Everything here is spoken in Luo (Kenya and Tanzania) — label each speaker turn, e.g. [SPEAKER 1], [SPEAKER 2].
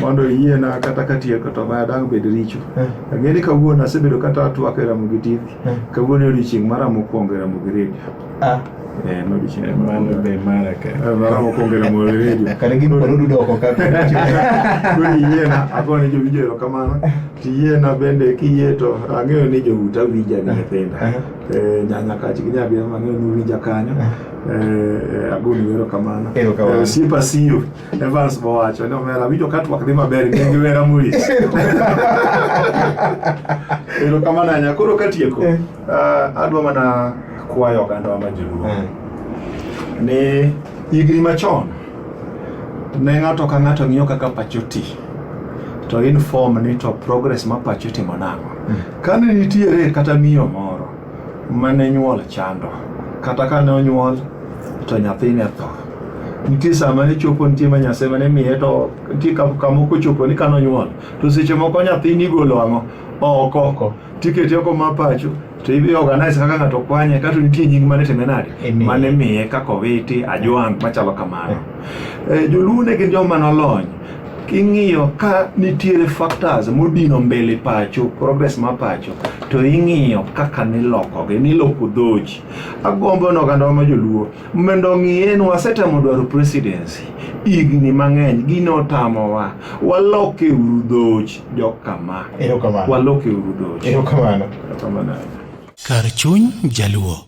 [SPEAKER 1] mondo iyiena kata katieko to maya dang' bed richo eh. ang'e ni kawuono asebedo kata atwak e ramo gi tv eh. kawuono odiochieng' mara mokwongo e ramo gi redio ah. eh, iyiena agone jowinjo erokamano tiyiena bende kiyie to ang'eyo ni jouta winja gi nyithinda nyanya kach gi nyabia ang'eyo ni winja kanyo agoni erokamano osiepa siyo Evans Bowacho ne omera winjo ka twak dhi maber ne gi wera mulich. Ero kama nanya koro katieko. Eh. Uh, adwa mana kwayo oganda wa majiluo. Eh. Ni higni machon ne ng'ato ka ng'ato ng'iyo kaka pacho ti to inform ni to progress ma pacho timo nang'o. Mm. Kane nitiere kata miyo moro mane nyuol chando kata kane onyuol to nyathine tho nitie sama ne chopo nitie ma nyasaye mane miye to nitie ka- kamoko chopo ni kano nyuol to seche moko nyathini igolo ang'o oko Oko. tiketi oko ma pacho to ibi organize kaka ng'ato kwanye kato nitie nying mane time nade Imiye. mane miye kaka owiti ajwang' machalo kamano Eh, joluo ne gin joma nolony ing'iyo ka nitiere factors modino mbele pacho progress ma pacho to ing'iyo kaka nilokogi niloko dhoji agombo ni ogandawa ma joluo mondo ong'iye ni wasetemo dwaro presidency higni mang'eny gini otamowa waloke uru dhoji jokama Erokamano.
[SPEAKER 2] waloke
[SPEAKER 1] uru dhoji Erokamano.
[SPEAKER 2] Erokamano.
[SPEAKER 1] Kar
[SPEAKER 2] chuny Jaluo.